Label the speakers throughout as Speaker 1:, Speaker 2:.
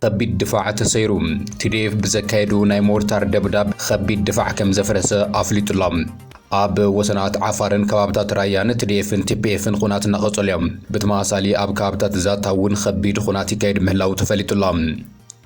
Speaker 1: ከቢድ ድፋዕ ተሰይሩ ቲዲኤፍ ብዘካየዱ ናይ ሞርታር ደብዳብ ከቢድ ድፋዕ ከም ዘፍረሰ ኣፍሊጡ ኣሎ። ኣብ ወሰናት ዓፋርን ከባብታት ራያን ትዲኤፍን ቲፒኤፍን ኹናት እናቐጸሉ እዮም። ብተመሳሳሊ ኣብ ከባብታት ዛታ እውን ከቢድ ኹናት ይካየድ ምህላው ተፈሊጡ ኣሎ።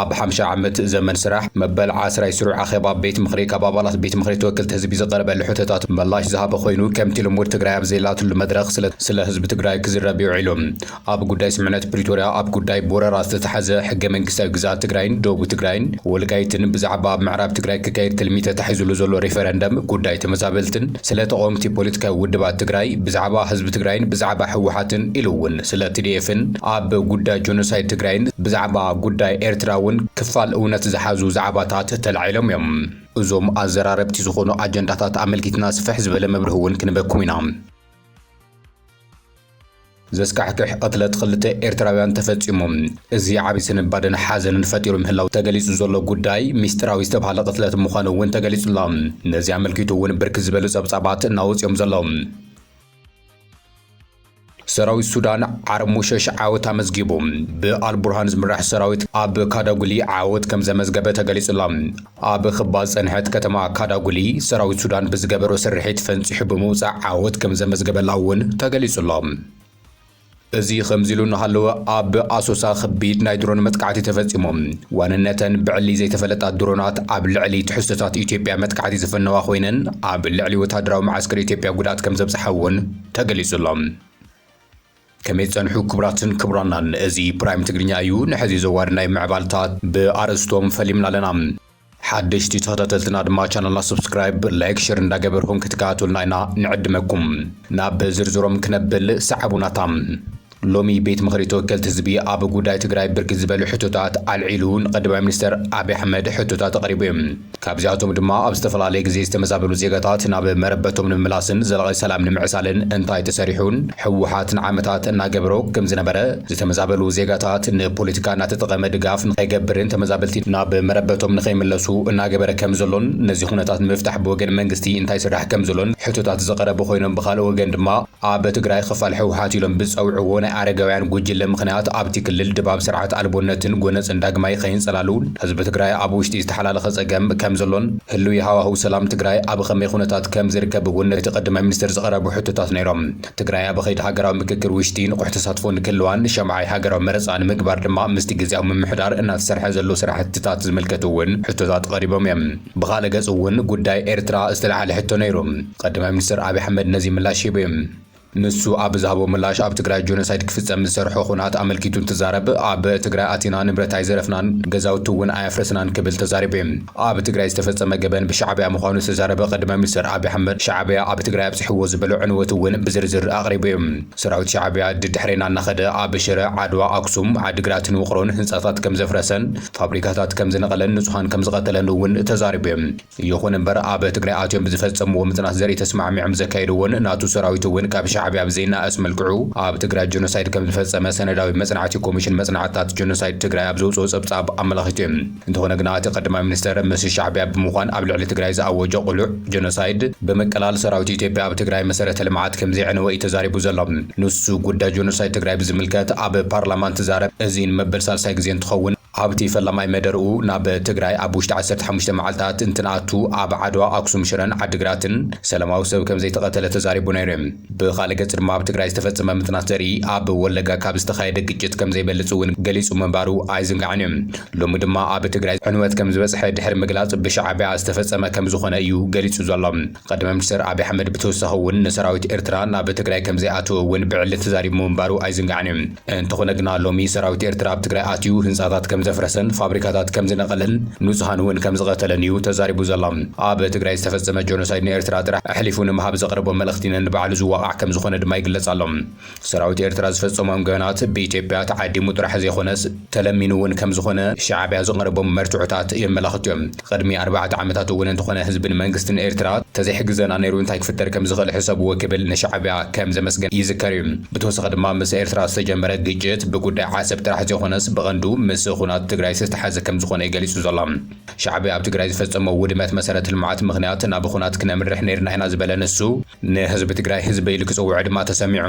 Speaker 1: ኣብ ሓምሻይ ዓመት ዘመን ስራሕ መበል ዓስራይ ስሩዕ ኣኼባ ቤት ምኽሪ ካብ ኣባላት ቤት ምኽሪ ተወከልቲ ህዝቢ ዝቐረበሉ ሕቶታት መላሽ ዝሃበ ኮይኑ ከምቲ ልሙድ ትግራይ ኣብ ዘየላትሉ መድረኽ ስለ ስለ ህዝቢ ትግራይ ክዝረብ ውዒሉ። ኣብ ጉዳይ ስምምዕነት ፕሪቶርያ፣ ኣብ ጉዳይ ብወረራ ዝተታሕዘ ሕገ መንግስታዊ ግዝኣት ትግራይን ዶቡ ትግራይን ወልቃይትን፣ ብዛዕባ ኣብ ምዕራብ ትግራይ ክካየድ ትልሚ ተታሒዙሉ ዘሎ ሪፈረንደም፣ ጉዳይ ተመዛበልትን ስለ ተቐወምቲ ፖለቲካዊ ውድባት ትግራይ፣ ብዛዕባ ህዝቢ ትግራይን ብዛዕባ ህወሓትን ኢሉ እውን ስለ ቲዲኤፍን ኣብ ጉዳይ ጆኖሳይድ ትግራይን ብዛዕባ ጉዳይ ኤርትራ እውን ክፋል እውነት ዝሓዙ ዛዕባታት ተላዒሎም እዮም። እዞም ኣዘራረብቲ ዝኾኑ ኣጀንዳታት ኣመልኪትና ስፍሕ ዝበለ መብርሂ እውን ክንህበኩም ኢና። ዘስካሕክሕ ቕትለት ኽልተ ኤርትራውያን ተፈፂሙ። እዚ ዓብዪ ስንባደን ሓዘንን ፈጢሩ ምህላው ተገሊፁ ዘሎ ጉዳይ ሚስጢራዊ ዝተብሃለ ቕትለት ምዃኑ እውን ተገሊፁ ኣሎ። ነዚ ኣመልኪቱ እውን ብርክት ዝበሉ ፀብፃባት እናወፁ እዮም ዘለዉ። ሰራዊት ሱዳን ዓርሞሸሽ ዓወት ኣመዝጊቡ። ብኣልቡርሃን ዝምራሕ ሰራዊት ኣብ ካዳጉሊ ዓወት ከም ዘመዝገበ ተገሊጹ'ሎ። ኣብ ክባ ዝጸንሐት ከተማ ካዳጉሊ ሰራዊት ሱዳን ብዝገበሮ ስርሒት ፈንጺሑ ብምውጻእ ዓወት ከም ዘመዝገበላ'ውን ተገሊጹ'ሎ። እዚ ከምዚሉ እናሃለወ ኣብ ኣሶሳ ከቢድ ናይ ድሮን መጥቃዕቲ ተፈጺሙ። ዋንነተን ብዕሊ ዘይተፈለጣ ድሮናት ኣብ ልዕሊ ትሕዝቶታት ኢትዮጵያ መጥቃዕቲ ዝፈነዋ ኮይነን ኣብ ልዕሊ ወተሃደራዊ መዓስከር ኢትዮጵያ ጉድኣት ከም ዘብጽሓ'ውን ተገሊጹ ኣሎ። ከመይ ትጸንሑ ክቡራትን ክቡራናን እዚ ፕራይም ትግርኛ እዩ ንሐዚ ዘዋሪ ናይ ምዕባልታት ብኣርእስቶም ፈሊምና ኣለና። ሓደሽቲ ተኸታተልትና ድማ ቻናልና ሰብስክራይብ ላይክ ሸር እንዳገበርኹም ክትከታተሉና ኢና ንዕድመኩም። ናብ ዝርዝሮም ክነብል ሰዓቡናታ። ሎሚ ቤት ምኽሪ ተወከልቲ ህዝቢ ኣብ ጉዳይ ትግራይ ብርክት ዝበሉ ሕቶታት ኣልዒሉ ንቀዳማይ ሚኒስተር ኣብይ ኣሕመድ ሕቶታት ኣቕሪቡ እዩ። ካብዚኣቶም ድማ ኣብ ዝተፈላለየ ግዜ ዝተመዛበሉ ዜጋታት ናብ መረበቶም ንምምላስን ዘላቒ ሰላም ንምዕሳልን እንታይ ተሰሪሑን ህወሓት ንዓመታት እናገበሮ ከምዝነበረ ዝተመዛበሉ ዜጋታት ንፖለቲካ እናተጠቐመ ድጋፍ ንኸይገብርን ተመዛበልቲ ናብ መረበቶም ንኸይምለሱ እናገበረ ከምዘሎን ነዚ ኩነታት ንምፍታሕ ብወገን መንግስቲ እንታይ ይስራሕ ከምዘሎን ሕቶታት ዝቐረቡ ኮይኖም ብኻልእ ወገን ድማ ኣብ ትግራይ ኽፋል ህውሓት ኢሎም ብዝፀውዕዎ ናይ ኣረጋውያን ጉጅለ ምኽንያት ኣብቲ ክልል ድባብ ስርዓት ኣልቦነትን ጎነፅን ዳግማይ ኸይንፀላሉ ህዝቢ ትግራይ ኣብ ውሽጢ ዝተሓላለኸ ፀገም ከምዘሎን ህልዊ ሃዋህው ሰላም ትግራይ ኣብ ኸመይ ኹነታት ከምዝርከብ እውን እቲ ቐዳማይ ሚኒስትር ዝቐረቡ ሕቶታት ነይሮም። ትግራይ ኣብ ኸይዲ ሃገራዊ ምክክር ውሽጢ ንቑሕ ተሳትፎ ንክህልዋን ሻምዓይ ሃገራዊ መረፃ ንምግባር ድማ ምስቲ ግዝያዊ ምምሕዳር እናተሰርሐ ዘሎ ስራሕቲታት ዝምልከቱ እውን ሕቶታት ቐሪቦም እዮም። ብኻልእ ገፅ እውን ጉዳይ ኤርትራ ዝተልዓለ ሕቶ ነይሩ። ቐዳማይ ሚኒስትር ኣብይ ኣሕመድ ነዚ ምላሽ ሂቡ እዩ። ንሱ ኣብ ዝሃቦ ምላሽ ኣብ ትግራይ ጆኖሳይድ ክፍፀም ዝሰርሖ ኹናት ኣመልኪቱ እንትዛረብ ኣብ ትግራይ ኣቲና ንብረት ኣይዘረፍናን ገዛውቲ እውን ኣየፍረስናን ክብል ተዛሪቡ እዩ። ኣብ ትግራይ ዝተፈፀመ ገበን ብሻዕብያ ምዃኑ ዝተዛረበ ቐዳማይ ሚኒስትር ኣብይ ኣሕመድ ሻዕብያ ኣብ ትግራይ ኣብፂሕዎ ዝበሎ ዕንወት እውን ብዝርዝር ኣቕሪቡ እዩ። ሰራዊት ሻዕብያ ድድሕሬና እናኸደ ኣብ ሽረ፣ ዓድዋ፣ ኣክሱም፣ ዓዲግራትን ውቕሮን ህንፃታት ከምዘፍረሰን ፋብሪካታት ከምዝነቐለን ንፁሃን ከምዝቐተለን እውን ተዛሪቡ እዩ። ይኹን እምበር ኣብ ትግራይ ኣትዮም ብዝፈፀምዎ ምፅናት ዘርኢ ተስማዕሚዖም ዘካየድዎን ናቱ ሰራዊት እውን ካብ ሻዕቢያ ብዘይናኣስ መልክዑ ኣብ ትግራይ ጀኖሳይድ ከምዝፈፀመ ሰነዳዊ መፅናዕቲ ኮሚሽን መፅናዕትታት ጀኖሳይድ ትግራይ ኣብ ዘውፅኦ ፀብፃብ ኣመላኺቱ እዩ። እንተኾነ ግና እቲ ቀዳማይ ሚኒስትር ምስ ሻዕቢያ ብምዃን ኣብ ልዕሊ ትግራይ ዝኣወጆ ቅሉዕ ጀኖሳይድ፣ ብምቅላል ሰራዊት ኢትዮጵያ ኣብ ትግራይ መሰረተ ልምዓት ከምዘየዕነወ እዩ ተዛሪቡ ዘሎ። ንሱ ጉዳይ ጀኖሳይድ ትግራይ ብዝምልከት ኣብ ፓርላማ እንትዛረብ እዚን መበል ሳልሳይ ግዜ እንትኸውን፣ ኣብ'ቲ ፈላማይ መደርኡ ናብ ትግራይ ኣብ ውሽጢ ዓሰርተ ሓሙሽተ መዓልታት እንትንኣቱ ኣብ ዓድዋ፣ ኣክሱም፣ ሽረን ዓዲግራትን ሰለማዊ ሰብ ከምዘይተቐተለ ተዛሪቡ ነይሩ። ብኻልእ ገፅ ድማ ኣብ ትግራይ ዝተፈፀመ ምፅናት ዘርኢ ኣብ ወለጋ ካብ ዝተኻየደ ግጭት ከምዘይበልፅ እውን ገሊፁ ምንባሩ ኣይዝንጋዕን እዩ። ሎሚ ድማ ኣብ ትግራይ ዕንወት ከምዝበፅሐ ድሕሪ ምግላፅ ብሻዕቢያ ዝተፈፀመ ከምዝኾነ እዩ ገሊፁ ዘሎ። ቐዳማይ ሚኒስተር ኣብይ ኣሕመድ ብተወሳኺ እውን ንሰራዊት ኤርትራ ናብ ትግራይ ከምዘይኣተወ እውን ብዕሊ ተዛሪቡ ምንባሩ ኣይዝንጋዕን እዩ። እንተኾነ ግና ሎሚ ሰራዊት ኤርትራ ኣብ ትግራይ ኣትዩ ህንጻታት ከምዘፍረሰን ፋብሪካታት ከምዝነቐለን ንጹሃን እውን ከምዝቐተለን እዩ ተዛሪቡ ዘሎ። ኣብ ትግራይ ዝተፈጸመ ጆኖሳይድ ንኤርትራ ጥራሕ ኣሕሊፉ ንምሃብ ዘቕረቦ መልእኽቲ ነንባዕሉ ዝዋቓዕ ከምዝኾነ ድማ ይግለጽ ኣሎ። ሰራዊት ኤርትራ ዝፈጸሞም ገበናት ብኢትዮጵያ ተዓዲሙ ጥራሕ ዘይኮነስ ተለሚኑ እውን ከምዝኾነ ሻዕቢያ ዝቐረቦም መርትዖታት የመላኽቱ እዮም። ቕድሚ ኣርባዕተ ዓመታት እውን እንተኾነ ህዝብን መንግስትን ኤርትራ ተዘይሕግዘና ነይሩ እንታይ ክፍጠር ከምዝኽእል ሕሰብዎ ክብል ንሻዕቢያ ከምዘመስገን ይዝከር እዩ። ብተወሳኺ ድማ ምስ ኤርትራ ዝተጀመረ ግጭት ብጉዳይ ዓሰብ ጥራሕ ዘይኾነስ ብቐንዱ ምስ ኹናት ትግራይ ዝተተሓዘ ከምዝኾነ እዩ ገሊፁ ዘሎ። ሻዕቢያ ኣብ ትግራይ ዝፈጸሞ ውድመት መሰረተ ልምዓት ምኽንያት ናብ ኹናት ክነምርሕ ነይርና ኢና ዝበለ ንሱ፣ ንህዝቢ ትግራይ ህዝበይ ኢሉ ክፅውዖ ድማ ተሰሚዑ።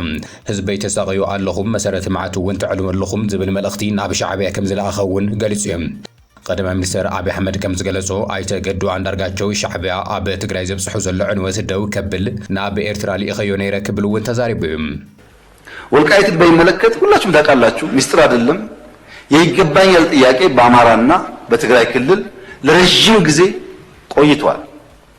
Speaker 1: ህዝበይ ተሳቕዩ ኣለኹም፣ መሰረተ ልምዓት እውን ተዕንዉ ኣለኹም ዝብል መልእኽቲ ናብ ሻዕብያ ከምዝለኣኸ እውን ገሊፁ እዩ። ቐዳማይ ሚኒስትር ኣብይ ኣሕመድ ከምዝገለፆ ኣይተ ገዱ ኣንዳርጋቸው ሻዕብያ ኣብ ትግራይ ዘብፅሖ ዘሎ ዕንወት ደው ከብል ናብ ኤርትራ ልኢኸዮ ነይረ ክብል እውን ተዛሪቡ እዩ።
Speaker 2: ወልቃይትን በይመለከት ሁላችሁም ታቃላችሁ ሚስጥር አደለም የይገባኛል ጥያቄ በአማራ እና በትግራይ ክልል ለረዥም ጊዜ ቆይቷል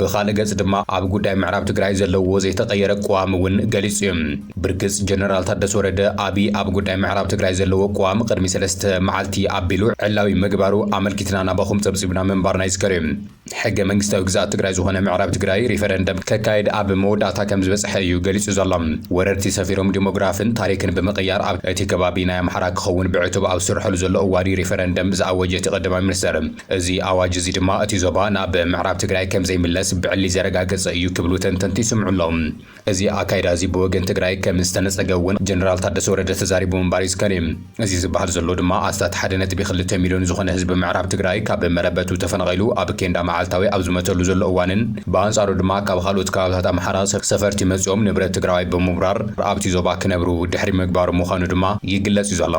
Speaker 2: ብኻልእ
Speaker 1: ገፅ ድማ ኣብ ጉዳይ ምዕራብ ትግራይ ዘለዎ ዘይተቐየረ ቅዋም እውን ገሊፁ እዩ። ብርግፅ ጀነራል ታደሰ ወረደ ኣብይ ኣብ ጉዳይ ምዕራብ ትግራይ ዘለዎ ቅዋም ቕድሚ ሰለስተ መዓልቲ ኣቢሉ ዕላዊ ምግባሩ ኣመልኪትና ናባኹም ፀብፂብና ምንባርና ይዝከር እዩ። ሕገ መንግስታዊ ግዝኣት ትግራይ ዝኾነ ምዕራብ ትግራይ ሪፈረንደም ከካይድ ኣብ መወዳእታ ከምዝበፅሐ እዩ ገሊፁ ዘሎ። ወረርቲ ሰፊሮም ዲሞግራፍን ታሪክን ብምቕያር ኣብ እቲ ከባቢ ናይ ኣምሓራ ክኸውን ብዕቱብ ኣብ ዝስርሐሉ ዘሎ እዋን እዩ ሪፈረንደም ዝኣወጀ እቲ ቐዳማይ ሚኒስትር። እዚ ኣዋጅ እዚ ድማ እቲ ዞባ ናብ ምዕራብ ትግራይ ከምዘይምለስ ብዕሊ ዘረጋገፀ እዩ ክብሉ ተንተንቲ ይስምዑ ኣለው። እዚ ኣካይዳ እዚ ብወገን ትግራይ ከምዝተነፀገ እውን ጀነራል ታደሰ ወረደ ተዛሪቡ ምንባር ይዝከር እዩ። እዚ ዝብሃል ዘሎ ድማ ኣስታት ሓደ ነጥቢ ክልተ ሚሊዮን ዝኾነ ህዝቢ ምዕራብ ትግራይ ካብ መረበቱ ተፈናቒሉ ኣብ ኬንዳ መዓልታዊ ኣብ ዝመተሉ ዘሎ እዋንን ብኣንፃሩ ድማ ካብ ኻልኦት ከባብታት ኣምሓራ ሰፈርቲ መፂኦም ንብረት ትግራዋይ ብምውራር ኣብቲ ዞባ ክነብሩ ድሕሪ ምግባሩ ምዃኑ ድማ ይግለፅ እዩ ዘሎ።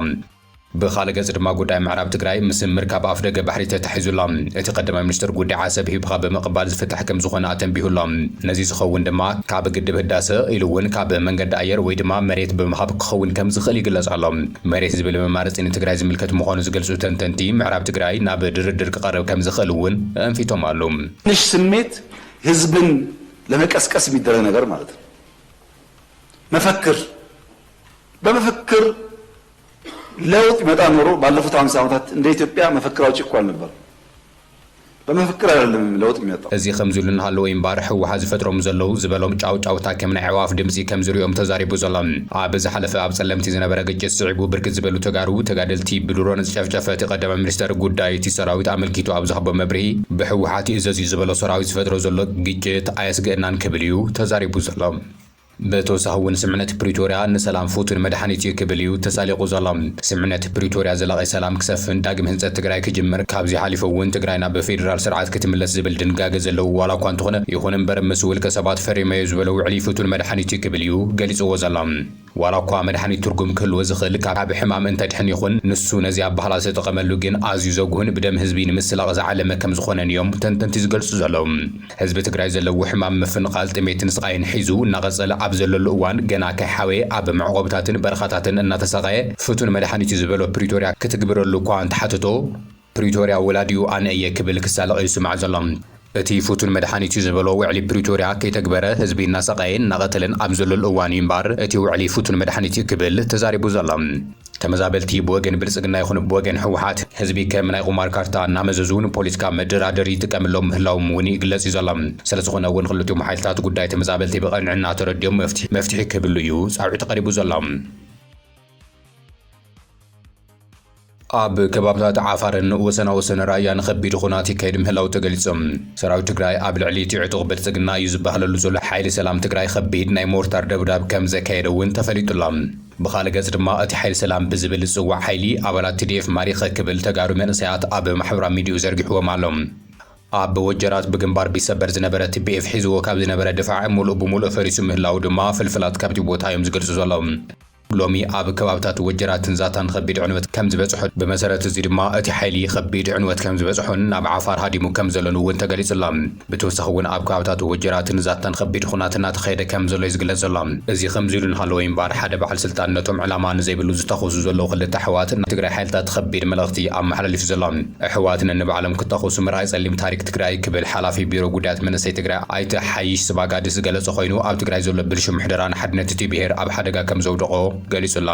Speaker 1: ብኻልእ ገፅ ድማ ጉዳይ ምዕራብ ትግራይ ምስ ምርካብ ኣፍደገ ባሕሪ ተታሒዙ ኣሎ። እቲ ቀዳማይ ሚኒስትር ጉዳይ ዓሰብ ሂብኻ ብምቕባል ዝፍታሕ ከምዝኾነ ኣተንቢሁ ኣሎ። ነዚ ዝኸውን ድማ ካብ ግድብ ህዳሰ ኢሉ እውን ካብ መንገዲ ኣየር ወይ ድማ መሬት ብምሃብ ክኸውን ከምዝኽእል ይግለፅ ኣሎ። መሬት ዝብል መማረፂ ንትግራይ ዝምልከት ምዃኑ ዝገልፁ ተንተንቲ ምዕራብ ትግራይ ናብ ድርድር ክቐርብ ከምዝኽእል እውን ኣእንፊቶም ኣሉ። ትንሽ ስሜት
Speaker 2: ህዝብን ለመቀስቀስ የሚደረግ ነገር ማለት ነው። መፈክር በመፈክር ለውጥ ቢመጣ ኖሮ ባለፉት ሃምሳ ዓመታት እንደ ኢትዮጵያ መፈክር ኣውጪ እኮ ኣልነበረን። በመፈክር ኣይደለም ለውጥ የሚመጣው። እዚ ከምዚ ኢሉ እናሃለወ
Speaker 1: እዩ እምበኣር ህወሓት ዝፈጥሮም ዘለዉ ዝበሎም ጫውጫውታ ከም ናይ ኣዕዋፍ ድምጺ ከም ዝርእዮም ተዛሪቡ ዘሎ። ኣብ ዝሓለፈ ኣብ ጸለምቲ ዝነበረ ግጭት ስዒቡ ብርክት ዝበሉ ተጋሩ ተጋደልቲ ብድሮን ዝጨፍጨፈ እቲ ቀዳማይ ሚኒስተር ጉዳይ እቲ ሰራዊት ኣመልኪቱ ኣብ ዝሃቦ መብርሂ ብህወሓት ይእዘዝ እዩ ዝበሎ ሰራዊት ዝፈጥሮ ዘሎ ግጭት ኣየስግእናን ክብል እዩ ተዛሪቡ ዘሎ። ብተወሳኺ እውን ስምምዕነት ፕሪቶርያ ንሰላም ፍቱን መድሓኒት እዩ ክብል እዩ ተሳሊቑ ዘሎ። ስምምዕነት ፕሪቶርያ ዘላቒ ሰላም ክሰፍን፣ ዳግም ህንፀት ትግራይ ክጅምር፣ ካብዚ ሓሊፉ እውን ትግራይ ናብ ፌዴራል ስርዓት ክትምለስ ዝብል ድንጋገ ዘለዎ ዋላ እኳ እንተኾነ ይኹን እምበር ምስ ውልቀ ሰባት ፈሪመዮ ዝበሎ ውዕሊ ፍቱን መድሓኒት እዩ ክብል እዩ ገሊፅዎ ዘሎ። ዋላ እኳ መድሓኒት ትርጉም ክህልዎ ዝኽእል ካብ ሕማም እንተድሕን ይኹን ንሱ ነዚ ኣበሃህላ ዝተጠቐመሉ ግን ኣዝዩ ዘጉህን ብደም ህዝቢ ንምስላቕ ዝዓለመ ከምዝኾነን እዮም ተንተንቲ ዝገልፁ ዘለዉ። ህዝቢ ትግራይ ዘለዎ ሕማም ምፍንቓል፣ ጥሜትን ስቓይን ሒዙ እናቐፀለ ኣብ ዘለሉ እዋን ገና ከይሓወየ ኣብ መዕቖብታትን በረኻታትን እናተሳቐየ ፍቱን መድሓኒት እዩ ዝበሎ ፕሪቶርያ ክትግብረሉ እኳ እንተሓተቶ ፕሪቶርያ ወላዲኡ ኣነ እየ ክብል ክሳለቕ እዩ ዝስማዕ ዘሎ። እቲ ፍቱን መድሓኒት እዩ ዝበሎ ውዕሊ ፕሪቶርያ ከይተግበረ ህዝቢ እናሰቓየን እናቐተለን ኣብ ዘለሉ እዋን እዩ እምበኣር እቲ ውዕሊ ፍቱን መድሓኒት እዩ ክብል ተዛሪቡ ዘሎ። ተመዛበልቲ ብወገን ብልጽግና ይኹን ብወገን ህወሓት ህዝቢ ከም ናይ ቁማር ካርታ እናመዘዙ ንፖሊትካ መደራደሪ ይጥቀምሎም ምህላዎም እውን ይግለጽ እዩ ዘሎ። ስለዝኾነ እውን ኽልቲኦም ሓይልታት ጉዳይ ተመዛበልቲ ብቐንዕና ተረዲኦም መፍትሒ መፍትሒ ክህብሉ እዩ ፃውዒት ቐሪቡ ዘሎ። ኣብ ከባብታት ዓፋርን ወሰና ወሰን ራያን ኸቢድ ኹናት ይካየድ ምህላው ተገሊፁ። ሰራዊት ትግራይ ኣብ ልዕሊ እቲ ዕጡቕ ብልፅግና እዩ ዝባሃለሉ ዘሎ ሓይሊ ሰላም ትግራይ ኸቢድ ናይ ሞርታር ደብዳብ ከምዘካየደ እውን ተፈሊጡ ኣሎ። ብኻልእ ገፅ ድማ እቲ ሓይሊ ሰላም ብዝብል ዝፅዋዕ ሓይሊ ኣባላት tdf ማሪኸ ክብል ተጋሩ መንእሰያት ኣብ ማሕበራዊ ሚዲይኡ ዘርጊሕዎም ኣሎ። ኣብ ወጀራት ብግንባር ቢሰበር ዝነበረ tbf ሒዝዎ ካብ ዝነበረ ድፋዕ ሙሉእ ብሙሉእ ፈሪሱ ምህላዉ ድማ ፍልፍላት ካብቲ ቦታ እዮም ዝገልፁ ዘለዉ። ሎሚ ኣብ ከባብታት ወጀራትን ዛታን ኸቢድ ዕንወት ከም ዝበፅሖ፣ ብመሰረት እዚ ድማ እቲ ሓይሊ ኸቢድ ዕንወት ከም ዝበፅሖን ናብ ዓፋር ሃዲሙ ከም ዘሎን እውን ተገሊፁ ኣሎ። ብተወሳኺ እውን ኣብ ከባብታት ወጀራትን ዛታን ኸቢድ ኹናት እናተኻየደ ከም ዘሎ እዩ ዝግለፅ ዘሎ። እዚ ኸምዚ ኢሉ እናሃለወ እምበኣር ሓደ በዓል ስልጣን ነቶም ዕላማ ንዘይብሉ ዝተኸዙ ዘለዉ ኽልተ ኣሕዋት ናይ ትግራይ ሓይልታት ኸቢድ መልእኽቲ እዩ ኣመሓላሊፉ ዘሎ። ኣሕዋት ነንባዕሎም ክታኾሱ ምርኣይ ፀሊም ታሪክ ትግራይ ክብል ሓላፊ ቢሮ ጉዳያት መንእሰይ ትግራይ ኣይተ ሓይሽ ስባጋዲ ዝገለፆ ኾይኑ ኣብ ትግራይ ዘሎ ብልሹው ምሕደራን ሓድነት እቲ ብሄር ኣብ ሓደጋ ከም ዘውደቖ ገሊፁ ኣሎ።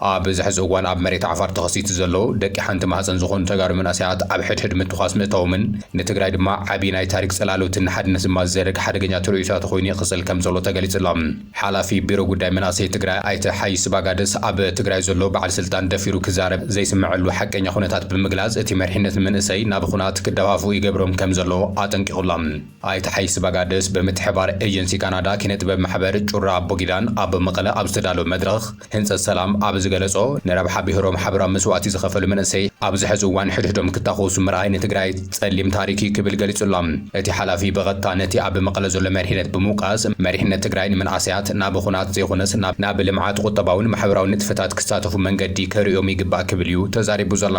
Speaker 1: ኣብዚ ሕዚ እዋን ኣብ መሬት ዓፋር ተኸሲቱ ዘሎ ደቂ ሓንቲ ማህፀን ዝኾኑ ተጋሩ መንእሰያት ኣብ ሕድሕድ ምትኳስ ምእታዎምን ንትግራይ ድማ ዓብይ ናይ ታሪክ ፅላሎትን ንሓድነት ድማ ዝዘርግ ሓደገኛ ትርኡይታ ተኾይኑ ይቅፅል ከምዘሎ ተገሊፁ'ሎ። ሓላፊ ቢሮ ጉዳይ መንእሰይ ትግራይ ኣይተ ሓይ ስባጋደስ ኣብ ትግራይ ዘሎ በዓል ስልጣን ደፊሩ ክዛረብ ዘይስመዐሉ ሓቀኛ ኩነታት ብምግላፅ እቲ መሪሕነት ንመንእሰይ ናብ ኹናት ክደፋፍኡ ይገብሮም ከምዘሎ ኣጠንቂቑ'ሎ። ኣይተ ሓይ ስባጋደስ ብምትሕብባር ኤጀንሲ ካናዳ ኪነ ጥበብ ማሕበር ጩራ ኣቦጊዳን ኣብ መቐለ ኣብ ዝተዳለወ መድረኽ፣ ህንጸት ሰላም ኣብ ዝገለጾ፣ ንረብሓ ብሄሮም ሓበራዊ መስዋእቲ ዝኸፈሉ መንእሰይ ኣብዚ ሕዚ እዋን ሕድሕዶም ክታኾሱ ምርኣይ ንትግራይ ጸሊም ታሪክ እዩ ክብል ገሊጹ'ሎ። እቲ ሓላፊ ብቐጥታ ነቲ ኣብ መቐለ ዘሎ መሪሕነት ብምውቃስ፣ መሪሕነት ትግራይ ንመንኣሰያት ናብ ኹናት ዘይኾነስ ናብ ልምዓት፣ ቁጠባውን ማሕበራውን ንጥፈታት ክሳተፉ መንገዲ ከርእዮም ይግባእ ክብል እዩ ተዛሪቡ ዘሎ።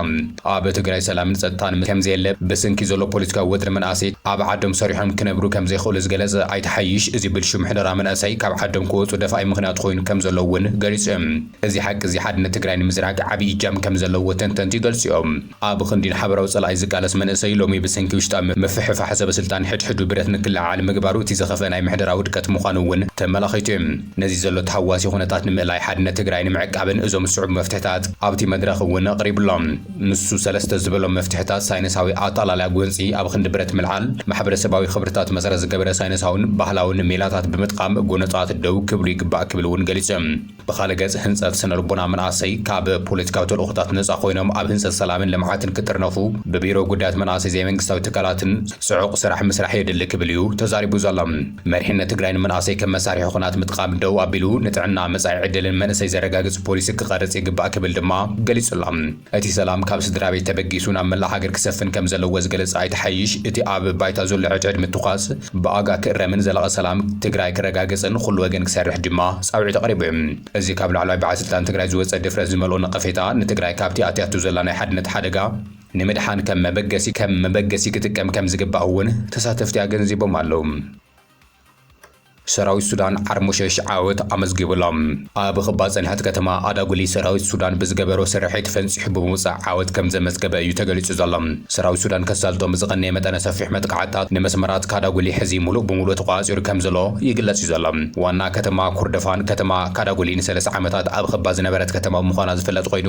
Speaker 1: ኣብ ትግራይ ሰላምን ፀጥታን ምስ ከምዘየለ ብስንኪ ዘሎ ፖለቲካዊ ወጥሪ መናእሰይት ኣብ ዓዶም ሰሪሖም ክነብሩ ከምዘይኽእሉ ዝገለፀ ኣይተ ሓይሽ እዚ ብልሽው ምሕደራ መናእሰይ ካብ ዓዶም ክወፁ ደፋኢ ምኽንያት ኾይኑ ከምዘሎ እውን ገሊፁ ዩ። እዚ ሓቂ እዚ ሓድነት ትግራይ ንምዝራግ ዓብይ እጃም ከምዘለዎ ተንተንቲ ይገልፁ ዮም። ኣብ ኽንዲ ንሓበራዊ ፀላኢ ዝቃለስ መንእሰይ ሎሚ ብስንኪ ውሽጣዊ ምፍሕፋሕ ሰበስልጣን ሕድሕዱ ብረት ንክለዓዓል ምግባሩ እቲ ዝኸፍአ ናይ ምሕደራ ውድቀት ምዃኑ እውን ተመላኺቱ ዩ። ነዚ ዘሎ ተሃዋሲ ኩነታት ንምእላይ ሓድነት ትግራይ ንምዕቃብን እዞም ዝስዕቡ መፍትሕታት ኣብቲ መድረኽ እውን ኣቕሪቡ ኣሎ። ንሱ ሰለስተ ዝበሎም መፍትሕታት ሳይነሳዊ ኣታላልያ ጎንፂ ኣብ ኽንዲ ብረት ምልዓል፣ ማሕበረሰባዊ ኽብርታት መሰረት ዝገበረ ሳይነሳውን ባህላውን ሜላታት ብምጥቓም ጎነፃት ደው ክብሉ ይግባእ ክብል እውን ገሊፁ እዩ። ብኻልእ ገፅ ህንፀት ስነልቦና መናእሰይ ካብ ፖለቲካዊ ተልእኾታት ነፃ ኾይኖም ኣብ ህንፀት ሰላምን ልምዓትን ክጥርነፉ ብቢሮ ጉዳያት መናእሰይ ዘይመንግስታዊ ትካላትን ፅዑቕ ስራሕ ምስራሕ የድሊ ክብል እዩ ተዛሪቡ ዘሎ። መሪሕነት ትግራይ ንመንእሰይ ከም መሳርሒ ኹናት ምጥቓም ደው ኣቢሉ ንጥዕና፣ መጻኢ ዕድልን መንእሰይ ዘረጋግጽ ፖሊሲ ክቐርጽ ይግባእ ክብል ድማ ገሊጹ'ሎ። እቲ ሰላም ካብ ስድራቤት ተበጊሱ ናብ መላእ ሃገር ክሰፍን ከም ዘለዎ ዝገለጸ ኣይተ ሓይሽ፣ እቲ ኣብ ባይታ ዘሎ ዕድዕድ ምትኳስ ብኣጋ ክእረምን ዘላቒ ሰላም ትግራይ ክረጋገጽን ኹሉ ወገን ክሰርሕ ድማ ጻውዒት ኣቕሪቡ። እዚ ካብ ላዕለዋይ በዓል ስልጣን ትግራይ ዝወጸ ድፍረት ዝመልኦ ነቐፌታ ንትግራይ ካብቲ ኣትያቶ ዘላ ናይ ሓድነት ሓደጋ ንምድሓን ከም መበገሲ ከም መበገሲ ክጥቀም ከም ዝግባእ እውን ተሳተፍቲ ኣገንዚቦም ኣለው። ሰራዊት ሱዳን ዓርሞሸሽ ዓወት ኣመዝጊቡ ኣሎ። ኣብ ኽባ ፅንሕት ከተማ ኣዳጉሊ ሰራዊት ሱዳን ብዝገበሮ ስርሒት ፈንፂሑ ብምውፃእ ዓወት ከም ዘመዝገበ እዩ ተገሊፁ ዘሎ። ሰራዊት ሱዳን ከሳልጦ ብዝቐነየ መጠነ ሰፊሕ መጥቓዕትታት ንመስመራት ካዳጉሊ ሕዚ ሙሉእ ብሙሉእ ተቖፃፂሩ ከም ዘሎ ይግለፅ እዩ ዘሎ። ዋና ከተማ ኩርደፋን ከተማ ካዳጉሊ ንሰለሳ ዓመታት ኣብ ኽባ ዝነበረት ከተማ ምዃና ዝፍለጥ ኾይኑ፣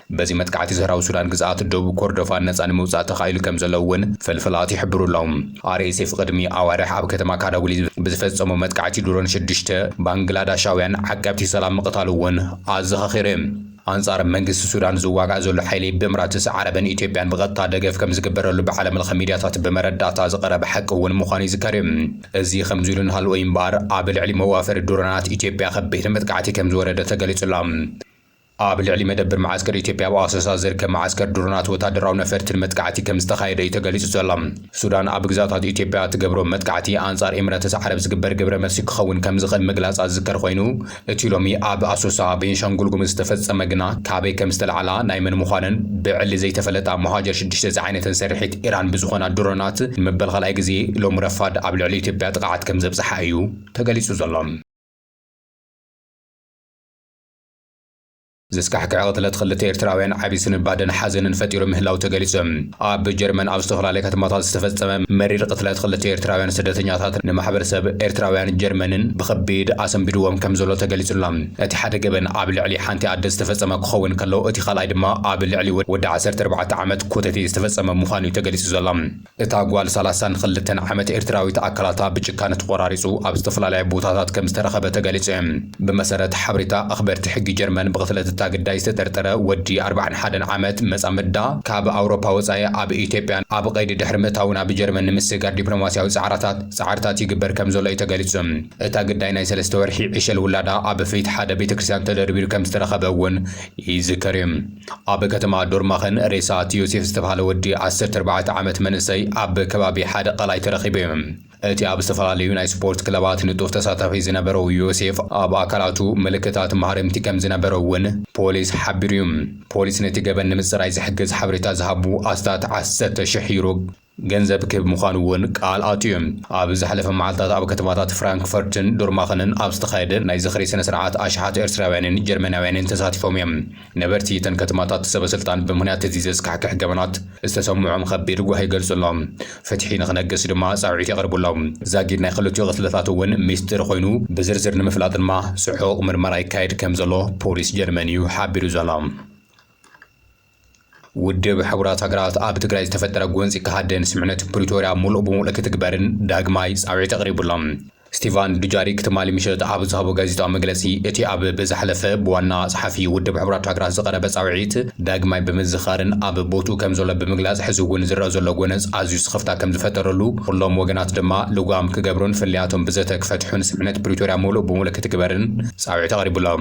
Speaker 1: በዚ መጥቃዕቲ ዘህራዊ ሱዳን ግዝኣት ደቡብ ኮርዶፋን ነጻ ንምውጻእ ተኻኢሉ ከም ዘሎ እውን ፍልፍላት ይሕብሩ ኣሎዉ። ኣርኤስኤፍ ቕድሚ ኣዋርሕ ኣብ ከተማ ካዳጉሊ ብዝፈጸሞ መጥቃዕቲ ድሮን ሽዱሽተ ባንግላዳሻውያን ዓቀብቲ ሰላም ምቕታሉ እውን ኣዘኻኺሩ እዩ። ኣንጻር መንግስቲ ሱዳን ዝዋጋእ ዘሎ ሓይሊ ብእምራትስ ዓረብን ኢትዮጵያን ብቐጥታ ደገፍ ከም ዝግበረሉ ብዓለምለኸ ሚድያታት ብመረዳእታ ዝቐረበ ሓቂ እውን ምዃኑ ይዝከር እዩ። እዚ ከምዚ ኢሉ እናሃለወ እዩ እምበኣር ኣብ ልዕሊ መዋፈሪ ድሮናት ኢትዮጵያ ከቢድ መጥቃዕቲ ከም ዝወረደ ተገሊጹ ኣሎ። ኣብ ልዕሊ መደብር መዓስከር ኢትዮጵያ ኣብ ኣሶሳ ዝርከብ መዓስከር ድሮናት ወታደራዊ ነፈርትን መጥቃዕቲ ከምዝተኻየደ እዩ ተገሊጹ ዘሎ። ሱዳን ኣብ ግዛታት ኢትዮጵያ እትገብሮ መጥቃዕቲ ኣንጻር ኤምረተስ ዓረብ ዝግበር ግብረመልሲ ክኸውን ከምዝኽእል ምግላጻ ዝዝከር ኮይኑ፣ እቲ ሎሚ ኣብ ኣሶሳ፣ ቤንሻንጉል ጉምዝ፣ ዝተፈጸመ ግና ካበይ ከምዝተላዕላ ናይ መን ምዃነን ብዕሊ ዘይተፈለጣ ሞሃጀር ሽዱሽተ ዝዓይነተን ስርሒት ኢራን ብዝኾና ድሮናት ንመበል ካልኣይ ግዜ ሎሚ ረፋድ ኣብ ልዕሊ ኢትዮጵያ ጥቕዓት ከምዘብጽሓ እዩ ተገሊጹ ዘሎ። ዘስካሕክሕ ቅትለት ክልተ ኤርትራውያን ዓቢ ስንባደን ሓዘንን ፈጢሩ ምህላው ተገሊጹ። ኣብ ጀርመን ኣብ ዝተፈላለየ ከተማታት ዝተፈጸመ መሪር ቅትለት ክልተ ኤርትራውያን ስደተኛታት ንማሕበረሰብ ኤርትራውያን ጀርመንን ብኸቢድ ኣሰንቢድዎም ከምዘሎ ተገሊጹ ኣሎ። እቲ ሓደ ገበን ኣብ ልዕሊ ሓንቲ ኣደ ዝተፈጸመ ክኸውን ከሎ እቲ ካልኣይ ድማ ኣብ ልዕሊ ወዲ ዓሰርተ ኣርባዕተ ዓመት ኮተቴ ዝተፈጸመ ምዃኑ'ዩ ተገሊጹ ዘሎ። እታ ጓል ሰላሳን ኽልተን ዓመት ኤርትራዊት ኣካላታ ብጭካነ ተቖራሪጹ ኣብ ዝተፈላለያ ቦታታት ከምዝተረኸበ ተገሊጹ። ብመሰረት ሓበሬታ ኣኽበርቲ ሕጊ ጀርመን ብቕትለት እታ ግዳይ ዝተጠርጠረ ወዲ ኣርባዓን ሓደን ዓመት መጻምድዳ ካብ ኣውሮፓ ወጻኢ ኣብ ኢትዮጵያ ኣብ ቐይዲ ድሕሪ ምእታዉ ናብ ጀርመን ንምስግጋር ዲፕሎማስያዊ ጻዕራታት ጻዕርታት ይግበር ከምዘሎ እዩ ተገሊጹ። እታ ግዳይ ናይ ሰለስተ ወርሒ ዕሸል ውላዳ ኣብ ፊት ሓደ ቤተክርስትያን ተደርቢሩ ከምዝተረኸበ እውን ይዝከር እዩ። ኣብ ከተማ ዶርማኸን ሬሳ እቲ ዮሴፍ ዝተብሃለ ወዲ ዓሰርተ ኣርባዕተ ዓመት መንእሰይ ኣብ ከባቢ ሓደ ቀላይ ተረኺቡ እዩ። እቲ ኣብ ዝተፈላለዩ ናይ ስፖርት ክለባት ንጡፍ ተሳታፊ ዝነበሮ ዮሴፍ ኣብ ኣካላቱ ምልክታት ማህረምቲ ከምዝነበሮ እውን ፖሊስ ሓቢሩ እዩ። ፖሊስ ነቲ ገበን ንምፅራይ ዝሕግዝ ሓበሬታ ዝሃቡ ኣስታት ዓሰርተ ሽሕ ዩሮ ገንዘብ ክህብ ምዃኑ እውን ቃል ኣትዩ እዩ። ኣብ ዝሓለፈ መዓልታት ኣብ ከተማታት ፍራንክፈርትን ዱርማኸንን ኣብ ዝተኻየደ ናይ ዝኽሪ ስነ ስርዓት ኣሽሓት ኤርትራውያንን ጀርመናውያንን ተሳቲፎም እዮም። ነበርቲ እተን ከተማታት ሰበ ስልጣን ብምኽንያት እዚ ዘስካሕክሕ ገበናት ዝተሰምዖም ኸቢድ ጓሂ ይገልጹ ኣለዉ። ፍትሒ ንኽነግስ ድማ ጻውዒት የቕርቡ ኣለዉ። ዛጊድ ናይ ኽልቲኡ ቕትለታት እውን ሚስጢር ኾይኑ ብዝርዝር ንምፍላጥ ድማ ጽዑቕ ምርመራ ይካየድ ከምዘሎ ፖሊስ ጀርመን እዩ ሓቢሩ ዘሎ። ውድብ ሕቡራት ሃገራት ኣብ ትግራይ ዝተፈጠረ ጎንፂ ክሃድን ስምምዕነት ፕሪቶርያ ሙሉእ ብሙሉእ ክትግበርን ዳግማይ ፃውዒት ኣቕሪቡ ኣሎ። ስቲቫን ዱጃሪክ ትማሊ ምሸት ኣብ ዝሃቦ ጋዜጣዊ መግለፂ እቲ ኣብ ብዝሓለፈ ብዋና ፀሓፊ ውድብ ሕቡራት ሃገራት ዝቐረበ ፃውዒት ዳግማይ ብምዝኻርን ኣብ ቦትኡ ከምዘሎ ብምግላፅ ሕዚ እውን ዝረኣ ዘሎ ጎነፅ ኣዝዩ ስኽፍታ ከምዝፈጠረሉ ኹሎም ወገናት ድማ ልጓም ክገብሩን ፍልልያቶም ብዘተ ክፈትሑን ስምምዕነት ፕሪቶርያ ሙሉእ ብሙሉእ ክትግበርን ፃውዒት ኣቕሪቡ ኣሎ።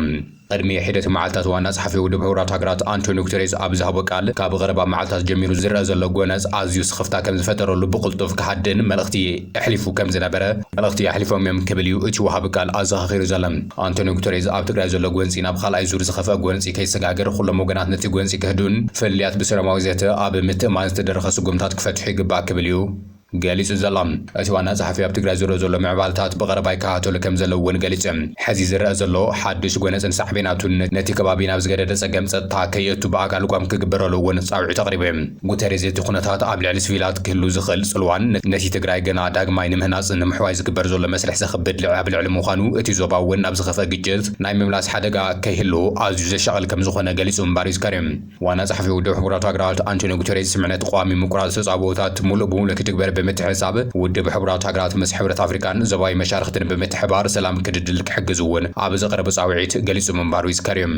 Speaker 1: ቕድሚ ሒደት መዓልታት ዋና ጸሓፊ ውድብ ሕቡራት ሃገራት ኣንቶንዮ ጉተሬዝ ኣብ ዝሃቦ ቃል፣ ካብ ቐረባ መዓልታት ጀሚሩ ዝርኣ ዘሎ ጎነጽ ኣዝዩ ስኽፍታ ከም ዝፈጠረሉ ብቕልጡፍ ክሃድእን መልእኽቲ ኣሕሊፉ ከም ዝነበረ መልእኽቲ ኣሕሊፎም'ዮም ክብል'ዩ እቲ ወሃቢ ቃል ኣዘኻኺሩ ዘሎ። ኣንቶንዮ ጉተሬዝ ኣብ ትግራይ ዘሎ ጎንጺ ናብ ኻልኣይ ዙር ዝኸፍኣ ጎንጺ ከይሰጋገር ኹሎም ወገናት ነቲ ጎንጺ ከህድኡን ፍልልያት ብሰላማዊ ዘተ ኣብ ምትእምማን ዝተደረኸ ስጉምታት ክፈትሑ ይግባእ ክብል'ዩ ገሊጹ ዘሎ። እቲ ዋና ጸሓፊ ኣብ ትግራይ ዘሎ ዘሎ ምዕባልታት ብቐረባ ይከታተሎ ከምዘለዉ እውን ገሊጹ። ሕዚ ዝረኣ ዘሎ ሓዱሽ ጎነጽን ሳዕቤናቱን ነቲ ከባቢ ናብ ዝገደደ ጸገም ጸጥታ ከየእቱ ብኣጋ ልጓም ክግበረሉ እውን ጻውዒት ኣቕሪቡ። ጉተሬዝ እቲ ኩነታት ኣብ ልዕሊ ስቪላት ክህሉ ዝኽእል ጽልዋን ነቲ ትግራይ ገና ዳግማይ ንምህናጽን ንምሕዋይ ዝግበር ዘሎ መስርሕ ዘኽብድ ልዕሊ ኣብ ልዕሊ ምዃኑ እቲ ዞባ እውን ናብ ዝኸፍኣ ግጭት ናይ ምምላስ ሓደጋ ከይህሉ ኣዝዩ ዘሻቕል ከምዝኾነ ገሊጹ ምንባሩ ይዝከር እዩ። ዋና ጸሓፊ ውድብ ሕቡራት ሃገራት ኣንቶንዮ ጉተሬዝ ስምዕነት ቐዋሚ ምቁራጽ ተጻብኦታት ሙሉእ ብሙሉእ ክትግበር ብምትሕሳብ ውድብ ሕቡራት ሃገራት ምስ ሕብረት ኣፍሪቃን ዞባዊ መሻርኽትን ብምትሕብባር ሰላም ክድልድል ክሕግዝ እውን ኣብ ዘቕረቦ ጻውዒት ገሊጹ ምንባሩ ይዝከር'ዩ።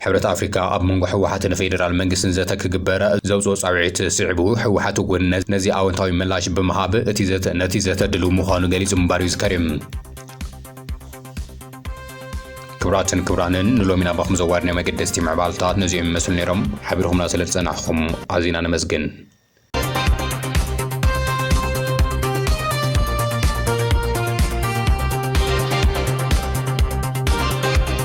Speaker 1: ሕብረት ኣፍሪቃ ኣብ መንጎ ህወሓትን ፌደራል መንግስትን ዘተ ክግበር ዘውጽኦ ጻውዒት ስዒቡ ህወሓት እውን ነዚ ኣወንታዊ ምላሽ ብምሃብ እቲ ዘተ ነቲ ዘተ ድልው ምዃኑ ገሊጹ ምንባሩ ይዝከር'ዩ። ክብራትን ክብራንን ንሎሚ ናባኹም ዘዋድናዮ መገደስቲ ምዕባልታት ነዚኦም ይመስሉ ነይሮም ሓቢርኹምና ስለ ዝጸናሕኹም ኣዚና ነመስግን